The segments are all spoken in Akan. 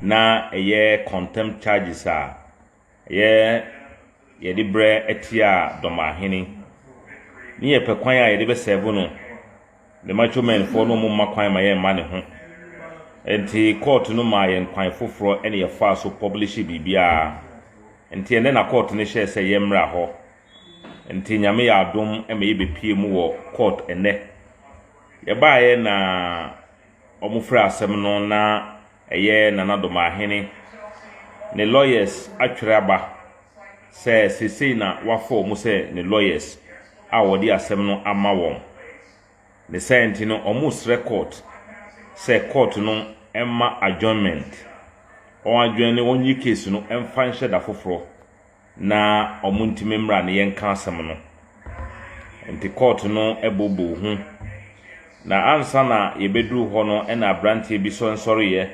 Na ɛyɛ contempt charges a ɛyɛ yɛde brɛ atia dɔmahene ne yɛpɛ kwan a yɛde bɛsɛvo no the macho menfoɔ no ɔmo mma kwan ma yɛmma ne ho nti court no maa yɛn kwan foforɔ ɛne yɛfaa so publish biribiara nti ɛnɛ na court no hyɛɛ sɛ yɛmmra hɔ Nti Nyame yɛ adom ma yɛbɛpuee mu wɔ court nnɛ. Yɛbaeɛ na wɔn frɛ asɛm no na ɛyɛ Nana Domahene ne lawyers atwerɛ aba sɛ seisei na wafa wɔn sɛ ne lawyers a wɔde asɛm no ama wɔn. Ne saa nti no wɔn srɛ court sɛ court no mma adjournment, wɔn adjourne wɔn yi case no mfa nhyɛ da foforɔ. na wɔntumi mmra na yɛnka asɛm no. Enti kɔɔto no booboo ho, na ansa na yɛbɛduru hɔ no na aberanteɛ bi sɔ nsɔreeɛ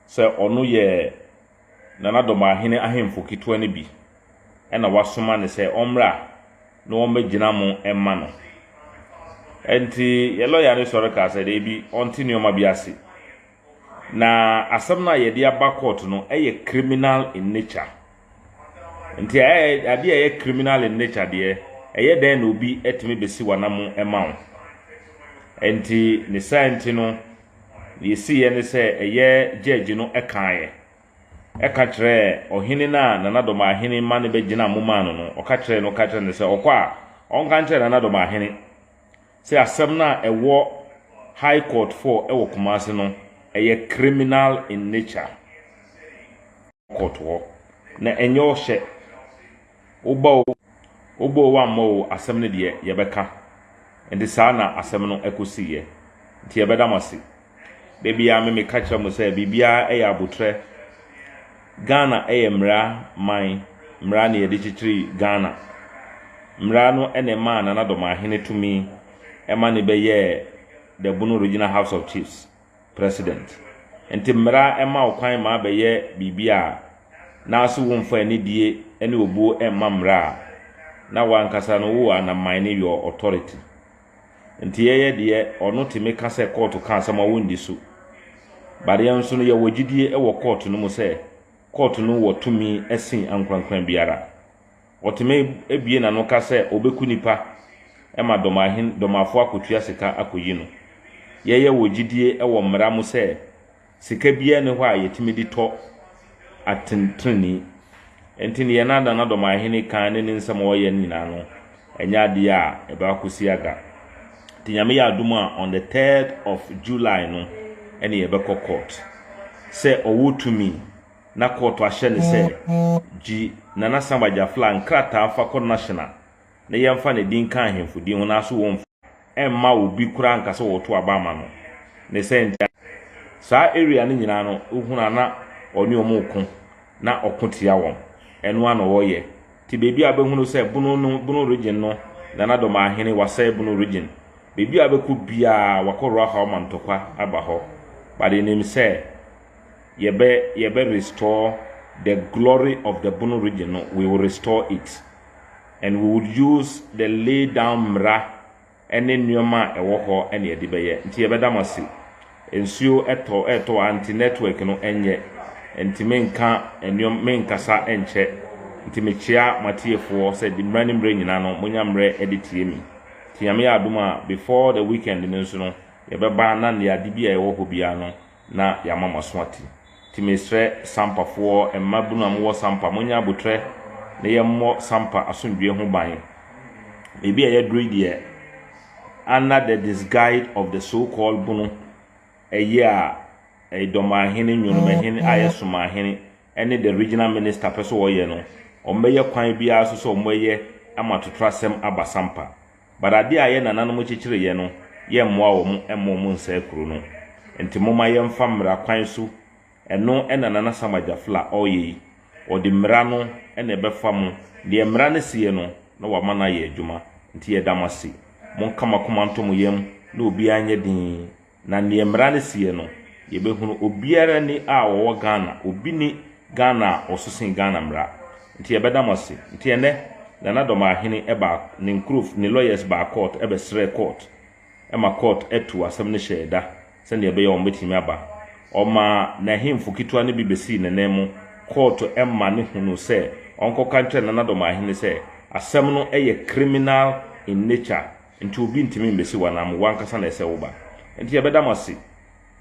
sɛ ɔno yɛ Nana Dɔmahene ahemfo ketewa no bi na wɔasoma no sɛ ɔmmra na wɔmmɛgyina mo mma no. Enti yɛn lɔya no sɔre kaa sɛ daabi, ɔnte nneɛma bi ase. Na asɛm no a yɛde aba court no yɛ criminal in nature. Nti adeɛ a ɛyɛ criminal in nature deɛ, ɛyɛ dɛn na obi atumi bɛsi w'anam ma wo? Nti ne saa nti no, deɛ ɛsiiɛ ne sɛ ɛyɛ judge no kaeɛ, ɛka kyerɛɛ ɔhene no a Nana Dɔmahene ma no bɛgyina mo maa no no, ɔka kyerɛɛ no, ɔka kyerɛɛ no sɛ ɔkɔ a, ɔnka nkyerɛ Nana Dɔmahene. Sɛ asɛm no a ɛwɔ High Court four ɛwɔ Kumasi no ɛyɛ criminal in nature court hɔ na ɛnyɛ ɔhyɛ woba o woba o wammɔ o asɛm no deɛ yɛbɛka nti saa na asɛm no ɛkɔsiiɛ nti yɛbɛda mo ase. Da biara me meka kyerɛ mo sɛ biribiara yɛ abotrɛ. Ghana yɛ mmara man, mmara na yɛde kyekyere Ghana. Mmara no na ɛmaa Nana Dɔmahene tumi ma ne bɛyɛɛ the Bono Regional House of Chiefs President. Nti mmara ma wo kwan ma bɛyɛ biribi a n'ase wo mfa anidie ne obuo mma mmara a na wankasa no wo anaman ne your authority. Nti yɛyɛ deɛ ɔno tumi ka sɛ kɔɔto ka asɛm a wɔndi so. But yɛn nso no yɛwɔ gyidie wɔ kɔɔto no mu sɛ kɔɔto no wɔ tumi sen ankorankora biara. Ɔtumi bue n'ano ka sɛ ɔbɛku nipa ma dɔmahen, dɔmafoɔ akɔtua sika akɔyi no. Yɛyɛ wɔ gyidie wɔ mmara mu sɛ. Sika biara nni hɔ a yɛtumi de tɔ atɛntrenee. Enti deɛ na Nana Domaahene kan ne ne nsɛm a ɔyɛ no nyinaa no, ɛnyɛ adeɛ a ɛbɛakɔsi aga. Nti Nyame yɛ adom a, on the third of July no ɛne yɛbɛkɔ court. Sɛ ɔwɔ tumi na court ahyɛ no sɛ, gyi Nana Samba Jaffla nkrataa fa kɔ National na yɛmfa ne din nka ahemfo din ho nanso wɔmfa. ɛmma obi koraa nka sɛ wɔto aba ama no. Ne sɛn ntia? Saa area no nyinaa no, wohunu a na ɔne wɔn reko, na ɔko tia wɔn. Ɛno ara na ɔreyɛ. Nti baabi a wobɛhunu sɛ Bono no, Bono Region no, Nana Domaa Hene wasɛe Bono Region. Baabi a wobɛkɔ biara, wakɔ Ruahao ma ntɔkwa aba hɔ. But yɛnim sɛ yɛbɛ, yɛbɛ restore the glory of the Bono Region no, we will restore it. And we would use the lay down mmara ne nnoɔma a ɛwɔ hɔ na yɛde bɛyɛ. Nti yɛbɛda mo ase. Nsuo tɔ retɔ a nti network no nyɛ nti menka nnoɔma menkasa nkyɛ. Nti mekyea mo atiefoɔ sɛ de mmerɛ ne mmerɛ nyina no monya mmerɛ de tie me. Nti Nyame yɛ adom a before the weekend no nso no yɛbɛba na nea ade bi a ɛwɔ hɔ biara no na yɛama moaso ate. Nti mesrɛ Sampafoɔ, mmabunu a mowɔ Sampa, monyɛ aboterɛ na yɛmmɔ Sampa asomdwoeɛ ho ban. Baabi a yɛaduru yi deɛ, under the disguise of the so called bunu, ɛyea, Edomahene, Nwonomahene, a yɛsomaahene, ɛne the regional minister pɛ sɛ wɔyɛ no, wɔbɛyɛ kwan biara so sɛ wɔbɛyɛ ama totorasɛm aba sampa. But adeɛ a yɛ nananom kyekyereyɛ no, yɛmmoa wɔn mma wɔn nsɛe kuro no. Nti momma yɛmfa mmara kwan so, ɛno na Nana Sam Agyafla ɔreyɛ yi. Ɔde mmara no na ɛbɛfa mo. Deɛ mmara no seɛ no, na wama no ayɛ adwuma. Nti yɛda mo ase. Monka mo akoma nto mo yam na obiara nyɛ dinn Na neɛ mmara no seɛ no yɛbɛhunu obiara ni a ɔwɔ Ghana obi nni Ghana a ɔso sen Ghana mmara nti yɛbɛda mo ase nti ɛnɛ Nana Dɔmahene ɛbaa ne nkurofo ne lawyers baa court ɛbɛsrɛɛ court ma court tuu asɛm no hyɛɛ da sɛdeɛ ɛbɛyɛ a wɔbɛtumi aba ɔmaa n'ahemfo ketewa no bi bɛsii ne nan mu court ma no hunuu sɛ ɔnkɔka nkyerɛ Nana Dɔmahene sɛ asɛm no yɛ criminal in nature Nti obi ntumi mbesi wo anaa mo wo ankasa na ɛsɛ woba nti yɛbɛda mo ase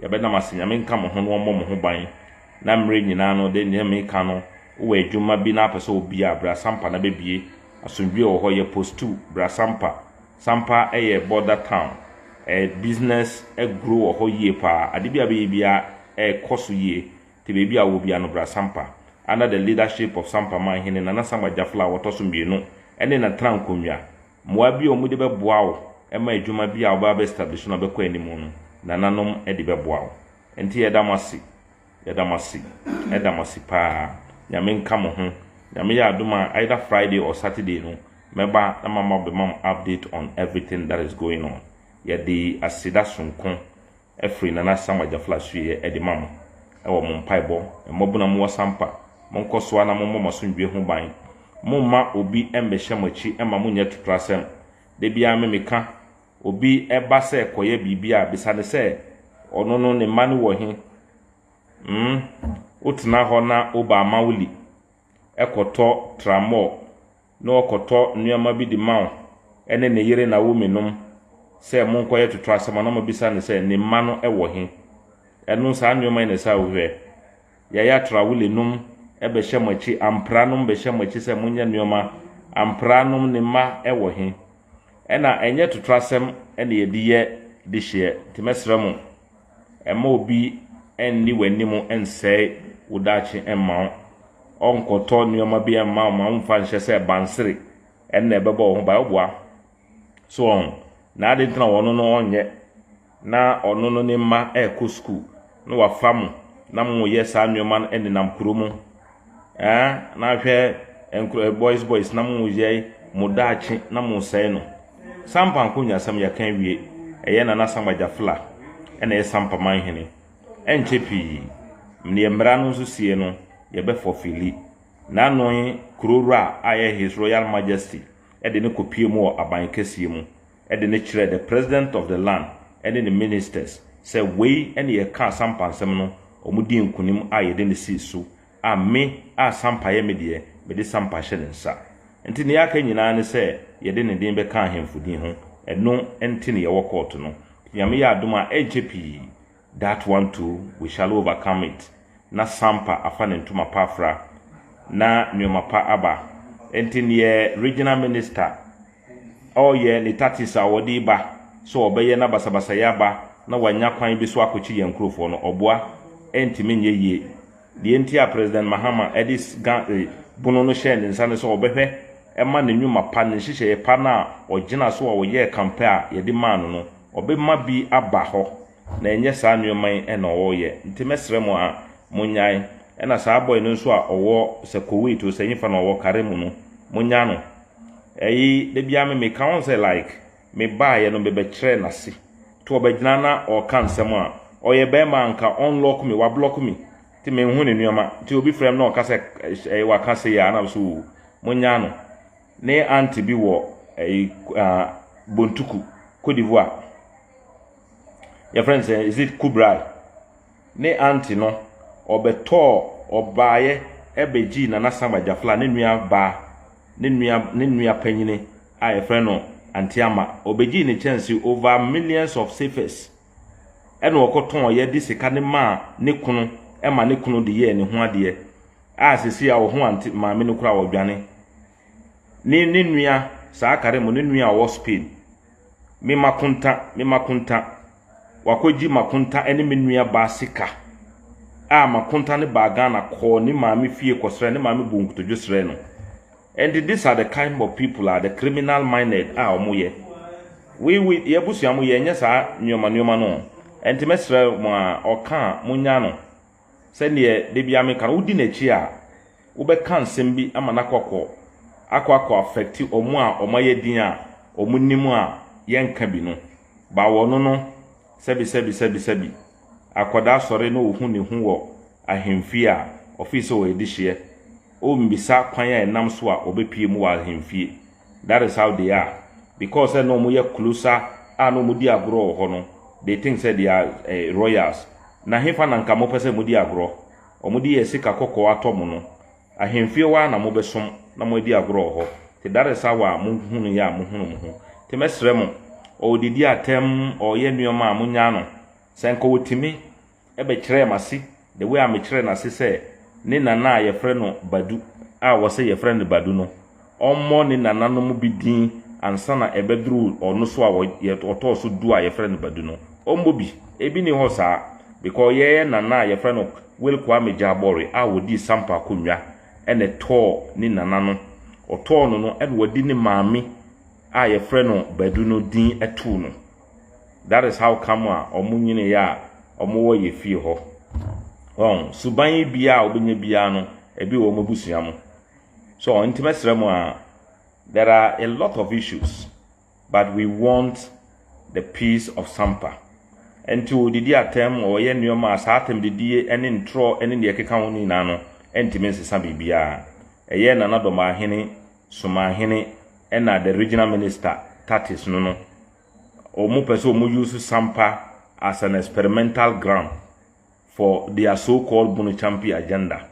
yɛbɛda mo ase nyame nka mo ho na ɔmmɔ mo ho ban na mmerɛ nyinaa no de neɛ meka no wowɔ adwuma bi na apɛ sɛ obia bra sampa na bɛbie asomdwie wɔ hɔ yɛ postu bra sampa sampa ɛyɛ border town ɛ business agro wɔ hɔ yie paa ade bi a bɛyɛ bia ɛ kɔ so yie nti baabi a wowɔ bia no bra sampa under the leadership of sampa man hene nana sampa jafla a wɔtɔ so mmienu ɛne na tra nkonwa. Mmoa bi a wɔde bɛboa wo ma adwuma bi a wobɛba abɛ establish no abɛkɔ anim no, nananom de bɛboa wo. Ɛnti yɛda mo ase, yɛda mo ase, yɛda mo ase paa. Nyame nka mo ho. Nyame yɛ adom a, either Friday or Saturday no, mɛba na maba abɛma mo update on everything that is going on. Yɛde aseda sononko. Afiri Nana Sam Agyafla sueɛ de ma mo wɔ mo mpaebɔ. Mmɔbona mu ɔsampa. Monkɔ soa na mommɔ mo asomdwie ho ban. Momma obi mmɛhyɛ mo akyi mma monyɛ atutrasɛm. Da biara me meka, obi ba sɛ kɔyɛ biribi a, bisa no sɛ, ɔno no ne mma no wɔ he? Hmmm, wotena hɔ na wo baa ma wo li kɔtɔ tramɔɔ. na ɔkɔtɔ nnoɔma bi de ma wo ne ne yere Naomi nom sɛ monkɔyɛ toto asɛm a, na wɔbisa no sɛ, ne mma no wɔ he? Ɛno, saa nnoɔma yi na ɛsɛ a wohwɛ. Yaya Traole nom bɛhyɛ mo akyi, Ampra nom bɛhyɛ mo akyi sɛ monyɛ nnoɔma, Ampra nom ne mma wɔ he? Ɛna ɛnyɛ toto asɛm na yɛde yɛ dehyeɛ, nti mɛsrɛ mo. Mma obi nni w'anim nsɛe wo daakye mma wo. Ɔnkɔtɔ nneɛma bi mma wo ma womfa nhyɛ sɛ bansere na ɛbɛbɔ wo ho ban. Ɔboa. So wɔn. Na ade nti na wɔn no ɔnyɛ. Na ɔno no ne mma ɛrekɔ sukuu na wafa mo na moyɛ saa nneɛma no nenam kuro mu. Ɛɛ, na hwɛ nkurɔ boys boys na mo yɛ mo daakye na mo sɛe no. Sampa nkonyasɛm yɛka awie, ɛyɛ Nana Sam Agyafla na ɛyɛ Sampa Manhene. Ɛnkyɛ pii, neɛ mmara no nso sie no yɛbɛ fɔfili. Nanoe Kuro Wura a ɛyɛ His Royal Majesty de no kɔ pie mu wɔ Aban kɛseɛ mu. de no kyerɛɛ the president of the land ne ne ministers sɛ wei ne yɛkaa sampa nsɛm no, wɔn dii nkonim a yɛde no sii so a me a sampa yɛ me deɛ mede sampa hyɛ ne nsa. Nti nea aka nyinaa ne sɛ yɛde ne din bɛka ahemfo din ho, ɛno nti ne yɛwɔ kɔɔto no. Nyame yɛ adom a ɛnkyɛ pii That one too we shall overcome it na Sampa afa ne ntoma pa afra na nnoɔma pa aba nti neɛ Regional Minister ɔɔyɛ ne tactics a ɔde reba sɛ ɔbɛyɛ na basabasayɛ aba na wanya kwan bi so akɔkye yɛn nkurofoɔ no ɔboa ɛntumi nyɛ yie deɛ nti a President Mahama de Ga eh, bunu no hyɛɛ ne nsa ne sɛ ɔbɛhwɛ ma ne nnwuma pa ne nhyehyɛeɛ pa no a ɔgyina so a ɔyɛɛ kampɛ a yɛde maa no no Wɔbɛma bi aba hɔ, na ɛnyɛ saa nnoɔma yi na wɔreyɛ. Nti mɛsrɛ mo a, monyae. Ɛna saa boy no nso a ɔwɔ sɛ Kuwait o, sɛ nyefa na ɔwɔ kare mu no, monyaa no. Ɛyi, da biara me meka ho sɛ like, me baeɛ no me bɛkyerɛɛ no ase. Nti ɔbɛgyina na ɔreka nsɛm a, ɔyɛ barima a nka ɔnlock me, wablock me. Nti menhu ne nnoɔma. Nti obi frɛ me na ɔka sɛ ɛyɛ waka sei a, na mesɛ oo, monyaa no. Ne aunt bi wɔ ɛyi ah Bontuku, Cote d'Ivoire. Yɛ friend sɛ is it Kubrai? Ne aunt no ɔbɛtɔɔ ɔbaayɛ ɛbɛgyii Nana Sam Ajafla ne nua baa ne nua ne nua panyini a yɛfrɛ no Auntie Ama. Ɔbɛgyii ne kyɛnse over millions of cefes ɛna ɔkɔtɔn yɛ de sika no maa ne kunu ɛma ne kunu de yɛɛ ne ho adeɛ. A sesei a wo ho ante maame no koraa ɔdwane ne ne nua saa kare mo ne nua a ɔwɔ Spain me makonta me makonta wakɔgye makonta ne me nua baa sika a makonta ne baa Ghana kɔɔ ne maame fie kɔsrɛ ne maame buu nkotodwe srɛ no ɛnti this are the kind of people are the criminal minded a ɔmo yɛ we we yɛ abusua mo yɛ nyɛ saa nnoɔma nnoɔma no ɛnti mɛsrɛ mo a ɔka a mo nya no Sɛdeɛ da biara meka no, wodi n'akyi a, wobɛka nsɛm bi ama no akɔ kɔ akɔ akɔ affect wɔn a wɔayɛ din a wɔnim a yɛnka bi no. Ba wɔ no no, sɛbi sɛbi sɛbi sɛbi. Akwadaa sɔre na ɔhu ne ho wɔ ahemfie a, ɔfeel sɛ ɔyɛ dehyeɛ. Ɔmmisa kwan a ɛnam so a ɔbɛpue mu wɔ ahemfie. that is how they are because sɛ na ɔmo yɛ closer a na ɔmo di agorɔ wɔ hɔ no they think sɛ they are eh, royals na hefa na nka mopɛ sɛ modi agorɔ ɔmo de yɛ sika kɔkɔɔ atɔ mo no ahemfie hɔ a na mobɛsom na moadi agorɔ wɔ hɔ te that is how a mohunu yɛ a mohunu mo ho te mɛsrɛ mo ɔɔdidi atɛm ɔɔyɛ nneɛma a monyaa no sɛ nka ɔtumi bɛkyerɛɛ m'ase the way a mekyerɛɛ n'ase sɛ ne nana a yɛfrɛ no Badu a wɔsɛ yɛfrɛ no Badu no, ɔmmɔ ne nananom bi din ansa na ɛbɛduru ɔno so a ɔtɔɔ so du a yɛfrɛ no Badu no. Ɔmmɔ bi. Ebi nni hɔ saa because yɛn nana a yɛfrɛ no Will Kwame Gyabɔre a ɔdii Sampa akonnwa na ɛtɔɔ ne nana no, ɔtɔɔ no no na wadi ne maame a yɛfrɛ no Badu no din too no. that is how come a wɔn nyini yɛ a wɔn wɔ yɛ fie hɔ wɔn suban yi bia a wɔbɛnya biara no ebi wɔ wɔn abusua mu so wɔn ntoma srɛ mu a there are a lot of issues but we want the peace of sampa nti wɔdidi atɛm wɔyɛ nneɛma a saa atɛm didie ne ntorɔ ne deɛ ɛkeka ho nyinaa no ntumi nsesa biribiara ɛyɛ nana dɔm ahene somahene ɛna the regional minister tatis no no ɔmo pɛ sɛ ɔmo use sampa as an experimental ground for their so called bono champi agenda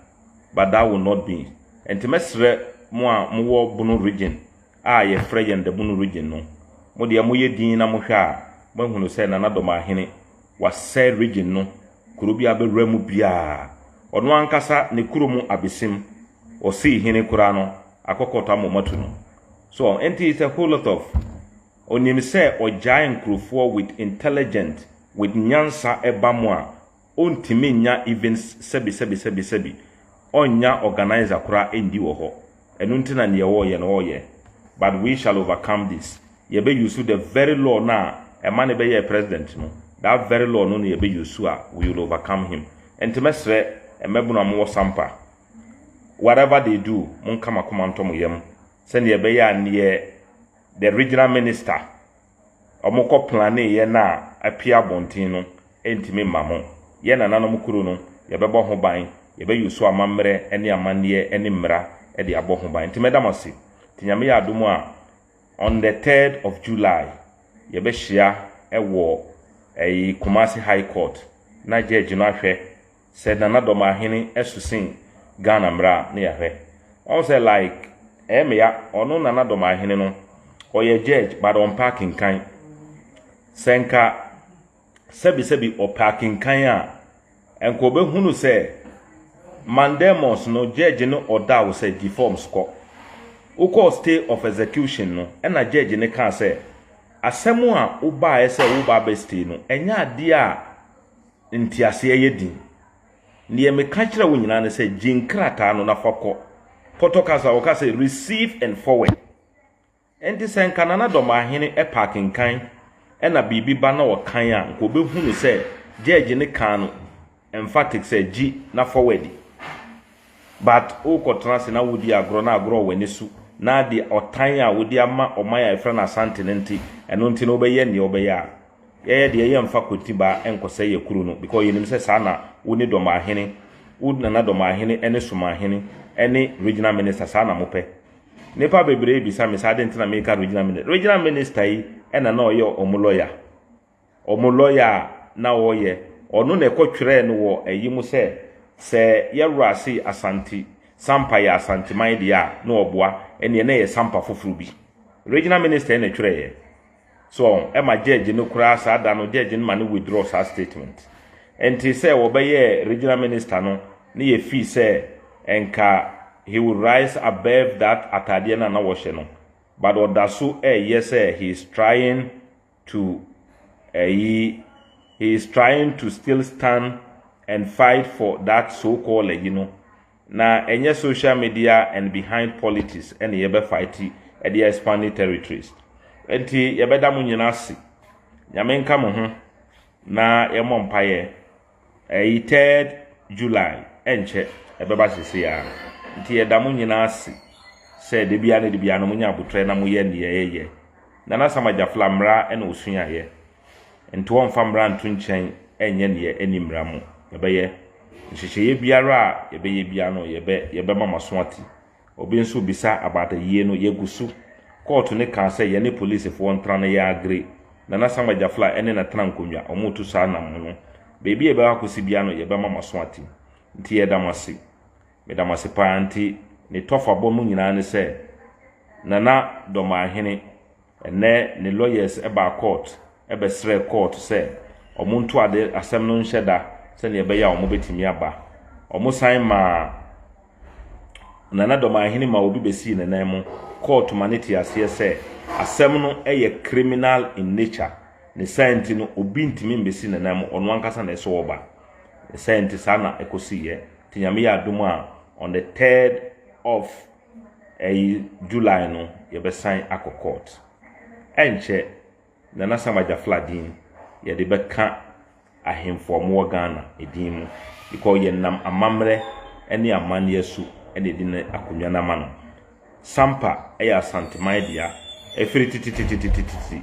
but that will not be nti mɛsrɛ mo a mo wɔ bono region a yɛ frɛ yɛn the bono region no mo deɛ mo yɛ din na mo hwɛ a mo ahunu sɛ nana dɔmahene Wɔasɛe region no kuro biara bɛwura mu biara. Ɔno ankasa ne kuro mu abesim, ɔsii hene koraa no, akɔ court ama wɔatu no. So nti it's a whole lot of Ɔnim sɛ ɔgyae nkurofoɔ with intelligent, with nyansa ɛba mu a, ɔntumi nnya even sɛbi sɛbi sɛbi sɛbi, ɔnnya organiser koraa nndi wɔ hɔ. Ɛno nti na neɛ ɔɔyɛ no ɔɔyɛ but we shall overcome this yɛbɛ use the very law no a ɛma no bɛyɛɛ president no that very law no na yɛbɛ use a we will overcome him nti mɛsrɛ mmabunu a mowɔ sampa whatever they do monka makoma ntɔ mo yam sɛdeɛ ɛbɛyɛ a neɛ the regional minister wɔkɔplanee yɛn a apue abɔnten no ntumi mma mo. Yɛn nananom kuro no, yɛbɛbɔ ho ban, yɛbɛyɛ osu amammerɛ ne amanneɛ ne mmara de abɔ ho ban. Nti mɛda mo ase. Nti Nyame yɛ adom a, on the third of July, yɛbɛhyia wɔ ɛyi Kumasi High Court na judge no ahwɛ. Sɛ Nana Domahene su sen Ghana mmra a ne yɛahwɛ. Wahu sɛ like ɛyɛ me ya ɔno Nana Domahene no ɔyɛ judge but ɔmpɛ akenkan. Sɛ nka sɛbi sɛbi ɔpɛ akenkan a nka ɔbɛhunu sɛ mandamus no judge no ɔda wo sɛ gyi forms kɔ. Wokɔɔ stay of execution no ɛna judge no kaa sɛ asɛm a wobaeɛ sɛ woba abɛ stay no ɛnyɛ adeɛ a nteaseɛ yɛ den. Deɛ meka kyerɛ wo nyinaa ne sɛ gye nkrataa no na fa kɔ. Pɔtɔ kasa wɔka sɛ receive and forward. Ɛnti sɛ nka Nana Dɔmahene ɛpɛ akenkan ɛna biribi ba na ɔkan a nka ɔbɛhunu sɛ Judge no kaa no emphatic sɛ gye na forward. But wokɔtena ase na wodi agorɔ na agorɔ wɔ w'ani so na deɛ ɔtan a wode ama ɔman a yɛfrɛ no Asante no nte, ɛno nti na wobɛyɛ deɛ wobɛyɛ a. Yɛyɛ deɛ yɛmfa Kontibaa nkɔsɛe yɛ kuro no because yɛnim sɛ saa na wo ne Dɔmahene, wo Nana Dɔmahene ne Somahene ne Regional Minister saa na mopɛ. Nnipa bebree rebisa me sɛ adɛn nti na meka Regional Minister. Regional Minister yi na na ɔyɛ wɔn lɔya. Wɔn lɔya a na ɔyɛ, ɔno na ɛkɔtwerɛɛ no wɔ ayi mu sɛ sɛ yɛwura se Asante, Sampa yɛ Asanteman deɛ a na ɔboa, ɛnneɛ na ɛyɛ Sampa foforɔ bi. Regional Minister na ɛtwerɛeɛ. So ɛma judge no koraa saa da no judge no ma no withdraw saa statement. Ɛnte sɛ wɔbɛyɛɛ regional minister no ne yɛ fii sɛ nka he would rise above that ataadeɛ no a na wɔhyɛ no but ɔda so ɛɛyɛ sɛ he is trying to ɛyi he is trying to still stand and fight for that so called ɛyi no Na ɛnyɛ social media and behind politics na yɛbɛ fight de expand territories. Nti yɛbɛda mo nyina ase. Nyame nka mo ho na yɛmmɔ mpaeɛ. Ɛyi third July ɛnkyɛ ɛbɛba sesei ara. Nti yɛda mo nyina ase sɛ da biara ne da biara no monya abotrɛ na moyɛ neɛ ɛyɛ. Nana Sam Agyafla mmra na osuaeɛ. Nto wɔmfa mmara nto nkyɛn nyɛ nea ɛnni mmara mu. Yɛbɛyɛ. Nhyehyɛeɛ biara a yɛbɛyɛ biara no, yɛbɛ, yɛbɛma mo aso ate. Obi nso rebisa about ayie no, yɛgu so. Kɔɔto no kaa sɛ yɛne policefoɔ ntra na yɛagree. Nana Sam Agyafla ne no tena nkonnwa, wɔretu saa nam no. Baabi a yɛbɛkɔ akɔsi biara no, yɛbɛma mo aso ate. Nti yɛda mo ase. Meda mo ase paa. Nti ne tɔfabɔ mu nyinaa ne sɛ, Nana Dɔmahene, Ɛnnɛ ne lawyers baa court bɛsrɛɛ court sɛ wɔn nto ade asɛm no nhyɛ da sɛnea ɛbɛyɛ a wɔn bɛtumi aba. Wɔn san maa Nana Dɔmanhene maa obi bɛsii ne nan mu. Court ma no te aseɛ sɛ asɛm no yɛ criminal in nature, ne saa nti no obi ntumi mbɛsi ne nan mu, ɔno ankasa na ɛsɛ ɔba. Ne saa nti saa na ɛkɔsiiɛ. Nti Nyame yɛ adom a on the third of. Ɛyi July no yɛbɛsan akɔ court. Ɛnkyɛ Nana Sam Agyafla din yɛde bɛka ahemfo a wɔwɔ Ghana din mu because yɛnam amammerɛ ne amanneɛ so na yɛde no akonnwa no ama no. Sampa yɛ Asanteman dea firi titititititi.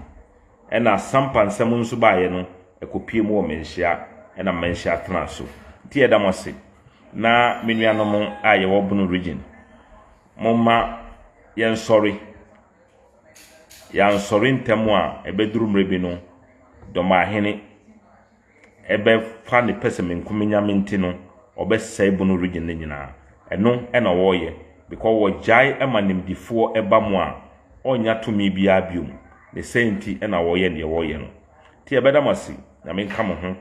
Ɛna sampa nsɛm nso baeɛ no ɛkɔpie mu wɔ Manhyia ɛna Manhyia tenaa so. Nti yɛda mo ase. Na me nuanom a yɛwɔ Bono Region, momma yɛnsɔre. Yɛansɔre ntɛm a ɛbɛduru mmerɛ bi no Dɔmbaahene, bɛfa ne pɛsɛmenkominya me nti no, ɔbɛsɛe bono region no nyinaa. Ɛno na wɔreyɛ because wɔgyae ma nimdefoɔ ba mu a, ɔnnya tumi biara biom. Ne saa nti na wɔreyɛ deɛ wɔreyɛ no. Nti yɛbɛda mo ase, Nyame nka mo ho.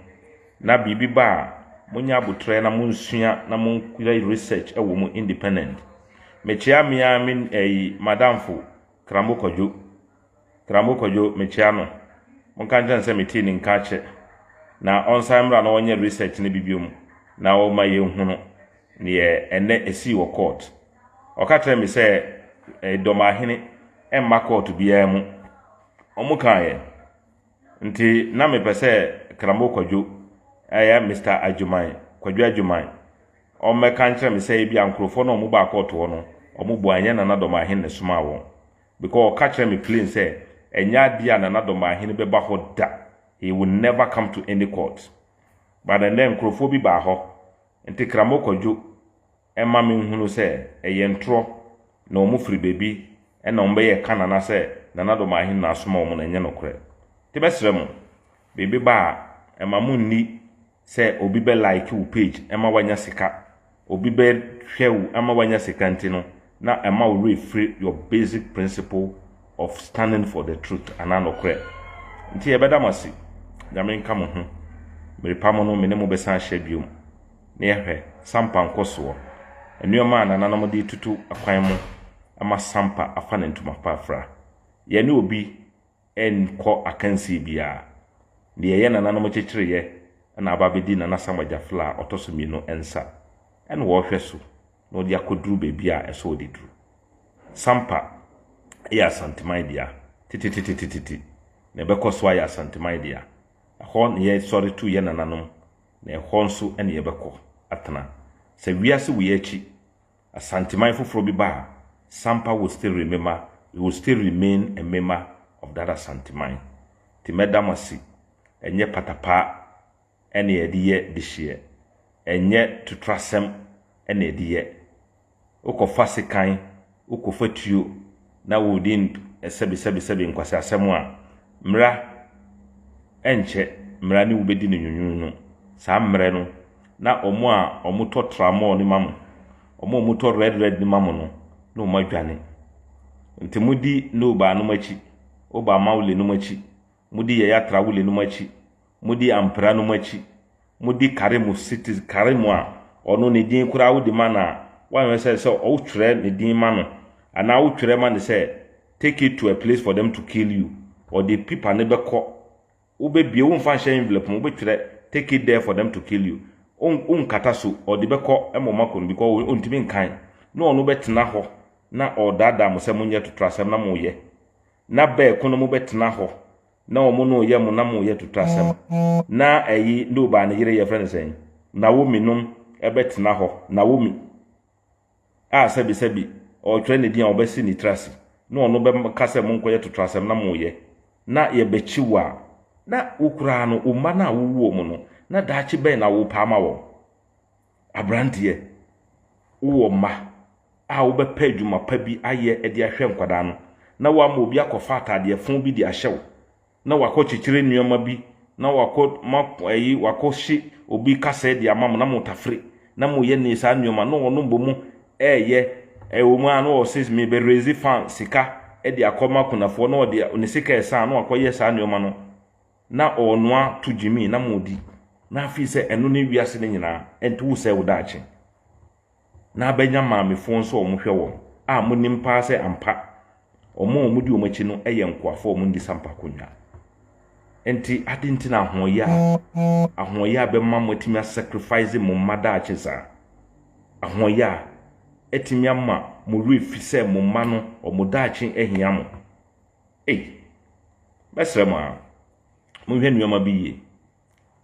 Na biribi ba a, monyɛ aboterɛ na monsua na moyɛ research wɔ mu independent. Mekyea me ara me ɛyi m'adamfo, Krambo Kwadwo. Trambo Kwadwo mekyea no, monka nkyerɛ no sɛ metee ne nka kyɛ na ɔnsan mmra na ɔnyɛ research no bi biom na ɔma yɛnhunu neɛ ɛnnɛ ɛsii wɔ court. Ɔka kyerɛɛ me sɛ Idomahene mma court biara mu, ɔmo kaeɛ nti na mepɛ sɛ Trambo Kwadwo, ɛyɛ Mister Agyeman, Kwadwo Agyeman, ɔmmɛka nkyerɛ me sɛ ebia nkorɔfoɔ no a ɔmo baa court hɔ no ɔmo bua ɛnyɛ Nana Domahene na ɛsomaa wɔn. Because ɔka kyerɛɛ me plain sɛ ɛnyɛ adeɛ a Nana Domaahene bɛba hɔ da, he will never come to any court. But ɛnnɛ nkorɔfoɔ bi baa hɔ, nti Kramo Kwadwo mma me nhunu sɛ ɛyɛ ntorɔ na wɔn firi baabi na wɔn bɛyɛ ɛka Nana sɛ Nana Domaahene na asoma wɔn no ɛnyɛ nokorɛ. Nti mɛsrɛ mo, biribi ba a, mma mo nni sɛ obi bɛ like wo page ɛma wanya sika, obi bɛ hwɛ wo ɛma wanya sika nti no na ɛma wo werɛ firi your basic principle of standing for the truth anaa nɔkorɛ. Nti yɛbɛda mo ase. Nyame nka mo ho. Merepa mo no me ne mo bɛsan ahyɛ biom na yɛhwɛ Sampa nkɔsoɔ. Nnoɔma a nananom de retutu akwan mo ɛma Sampa afa ne ntoma pa afira. Yɛne obi ɛnkɔ akansie biara. Deɛ ɛyɛ nananom kyekyereeɛ na aba abɛdi Nana Sam Agyafla a ɔtɔ so mmienu nsa na wɔrehwɛ so na wɔde akɔduru baabi a ɛsɛ wɔde duru. Sampa yɛ Asanteman dea tetetetetete na ɛbɛkɔ so ayɛ Asanteman dea. Ɛhɔ na yɛsɔre tu yɛn nananom na ɛhɔ nso na yɛbɛkɔ atena sɛ wiase wei akyi. Asanteman foforɔ bi baa Sampa Wostere Mema Iwostere Main Emema of that Asanteman nti mɛda mo ase ɛnyɛ patapaa ɛna yɛde yɛ dehyeɛ ɛnyɛ totorasɛm ɛna yɛde yɛ wokɔfa sekan wokɔfa tuo na wɔredi nsɛbisɛbisɛbi nkwaseasɛm a, mmra ɛnkyɛ mmra ne wo bɛdi no nwunwuunu. Saa mmerɛ no, na wɔn a wɔtɔ tramɔɔ no ma mo, wɔn a wɔtɔ red red no ma mo no, na wɔadwane. Nti modi Nobaa nom akyi, Obaa Maule nom akyi, modi yɛyɛ atrawole nom akyi, modi ampira nom akyi, modi kare mu siti kare mu a ɔno ne din koraa wode ma no a, woanhwɛ sɛ sɛ wotwerɛ ne din ma no anaa wotwerɛ ma no sɛ take it to a place for them to kill you, ɔde pipa no bɛkɔ, wobɛbie, womfa nhyɛ envelope mu, wobɛtwerɛ take it there for them to kill you, wonkata so, ɔde bɛkɔ ma ɔma kɔ no because ɔntumi nkan, na ɔno bɛtena hɔ na ɔredaadaa mo sɛ monyɛ totorasɛm na moyɛ. na bɛɛko no mo bɛ tena hɔ na ɔmo no yɛ mo na mo yɛ tutu asɛm na ɛyi nobaa ne yere yɛ fɛ ne sɛn nawomi nom ɛbɛ tena hɔ nawomi a sɛbi sɛbi ɔɔtwerɛ ne din a ɔbɛ si ne tiri ase na ɔno bɛ ka sɛ mo nkɔ yɛ tutu asɛm na mo yɛ na yɛ bɛ kyi wo a na wo koraa no wo mma no a wo wu ɔmo no na daakye bɛn na wo pɛ ama wɔn. Aberanteɛ, wowɔ mma a wobɛpɛ adwuma pa bi ayɛ de ahwɛ nkwadaa no, na woama obi akɔfa ataadeɛ fõ bi de ahyɛ wo, na wakɔ kyekyere nnoɔma bi, na wakɔ ma ɛyi wakɔ hye obi kasɛɛ de ama mo na mo tafere, na mo yɛ ne saa nnoɔma, na ɔno mbɔ mu ɛɛyɛ, ɛwɔ mu a na ɔse me bɛ raise fund sika de akɔ ma akunafoɔ, na ɔde ne sika ɛsan na wakɔ yɛ saa nnoɔma no. Na ɔɔnoa to gyimii na moodi, na afei sɛ ɛno ne wiase no nyinaa nti wosɛe wo daakye. Na abɛnya maamefoɔ nso a wɔhwɛ wɔn, a monim paa sɛ ampa wɔn a wɔdi wɔn akyi no yɛ nkoafoɔ a wɔndi sampa akonnwa. Nti aden nti na ahoɔyaa ahoɔyaa bɛma mo atumi a sacrifice mo mma daakye saa? Ahoɔyaa atumi ama mo werɛ fi sɛ mo mma no wɔn daakye ahia mo? Ei! Mɛsrɛ mo ara, monhwɛ nnoɔma bi yie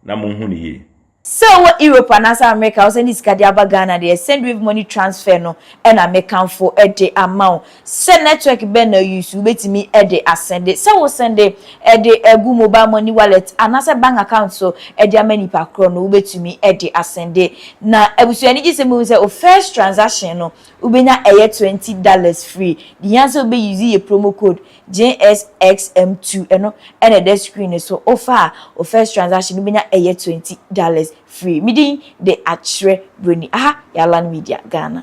na monhu no yie. Sɛ wowɔ Europe anaasɛ Amerika a wosɛnde sika de aba Ghana deɛ, Sendwave money transfer no na mekamfo de ama wo. Sɛ network bɛn na use, wobɛtumi de asɛnde. Sɛ wosɛnde de gu mobile money wallet anaasɛ bank account so de ama nipa korɔ no, wobɛtumi de asɛnde. Na abusua ani gye sɛ mohu sɛ wo first transaction no Wo benya ɛyɛ twenty dollars free de hia sɛ wo bɛ use yɛ promo code JSXM two ɛno ɛna ɛda screen no so wo fa a wo first transaction wo benya ɛyɛ twenty dollars free me din de akyerɛ broni aha yɛ Alan Media Ghana.